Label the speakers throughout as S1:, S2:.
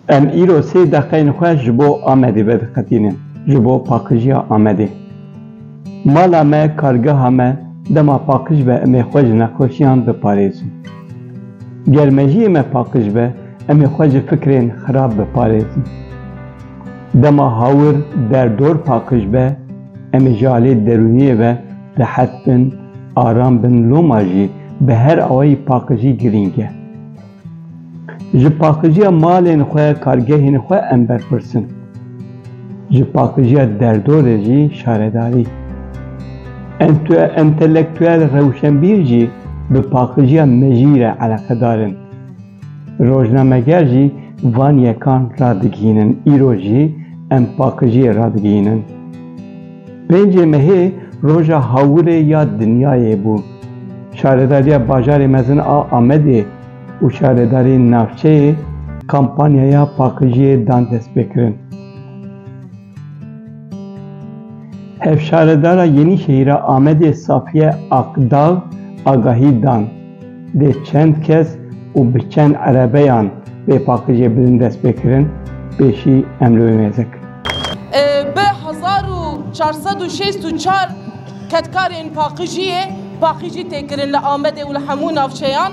S1: Em îro sê deqeyên xwe ji bo Amedê vediqetînin, ji bo paqijiya Amedê. Mala me, kargeha me dema paqij be em ê xwe ji nexweşiyan biparêzin. Ger mejiyê me paqij be em ê xwe ji fikrên xirab biparêzin. Dema hawir, derdor paqij be em ê ji aliyê derûniyê ve Rehet bin, aram bin loma jî bi her awayî paqijî girîng e. Ji paqijiya malên xwe, kargehên xwe em berpirsin. Ji paqijiya derdorê jî şaredarî. Entue entelektuel rewşenbîr jî bi paqijiya mejî re eleqedar in. Rojnameger jî van yekan radigihînin, îro jî em paqijiyê radigihînin. Pêncê Mehê roja hawirê ya dinyayê bû. Şaredariya Bajarê Mezin a Amedê û Şaredarî Navçeyê kampanyaya paqijiyê dan destpêkirin. Hevşaredara Yenîşehîra Amedê Safiye Akdag agahî dan, dê çend kes û bi çend erebeyan bê paqijê bin destpêkirin pêşî emlwêmêze kirin. Bi
S2: hezar û çar sed û şêst û çar kedkarên paqijiyê paqijî tê kirin li Amedê û li hemû navçeyan.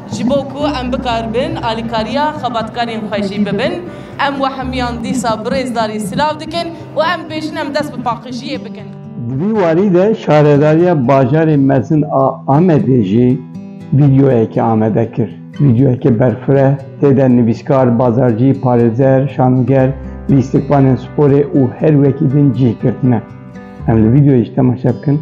S2: Ji bo ku em bikaribin alîkariya xebatkarên xwe jî bibin, em wehimiyan dîsa bi rêzdarî silav dikin û em dibêjin em dest bi paqijiyê bikin. Di vî warî
S1: de Şaredariya Bajarê Mezin a Amedê jî vîdeoyekê amade kir. Vîdeoyekê berfireh, tê de nivîskar, bazarcî, parêzer, şanoger, lîstikvanên sporê û her wekî din cih girtine. Em li vîdeoyê jî temaşe bikin.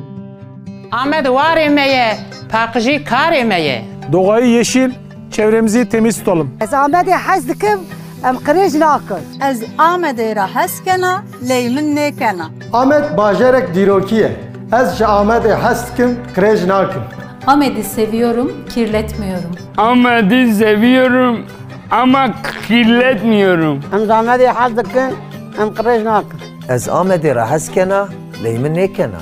S1: Amed
S3: warê me ye, paqijî karê me ye. Doğayî yeşîl,
S4: çevremizî temîz tutalım. Ez Amedê hez
S5: dikim, em qirêj nakim. Ez Amedê
S6: re hez kena, ley min nêkena. Amed bajarek
S7: dîrokî ye. Ez ji Amedê hez dikim, qirêj nakim. Amedî
S8: seviyorum, kirletmiyorum. Amedî
S9: seviyorum ama kirletmiyorum. Ez Amedê
S5: hez dikim, em qirêj nakim. Ez Amedê re
S10: hez kena, ley min nêkena.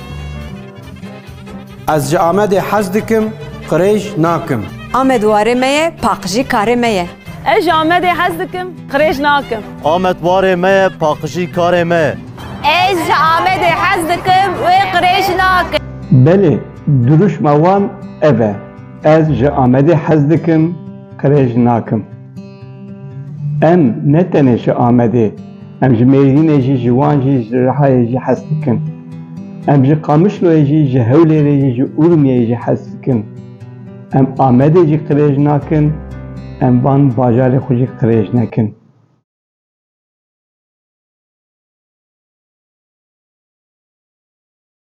S11: Ez ji Amedê hez dikim, qirêj nakim. Amed warê me
S12: ye, paqijî karê me ye. Ez ji Amedê
S13: hez dikim, qirêj nakim. Amed warê me
S2: ye, paqijî karê me ye. Ez ji
S14: Amedê hez dikim, wê qirêj nakim. Belê,
S1: dirûşma wan ev e. Ez ji Amedê hez dikim, qirêj nakim. Em ne tenê ji Amedê, em ji Mêrdînê jî, ji Wan jî, ji Rihayê jî hez dikin. Em ji Qamişloyê jî, ji Hewlêrê jî, ji Urmiyê jî hez dikin. Em Amedê jî qirêj nakin, em van bajarê xwe jî qirêj nekin.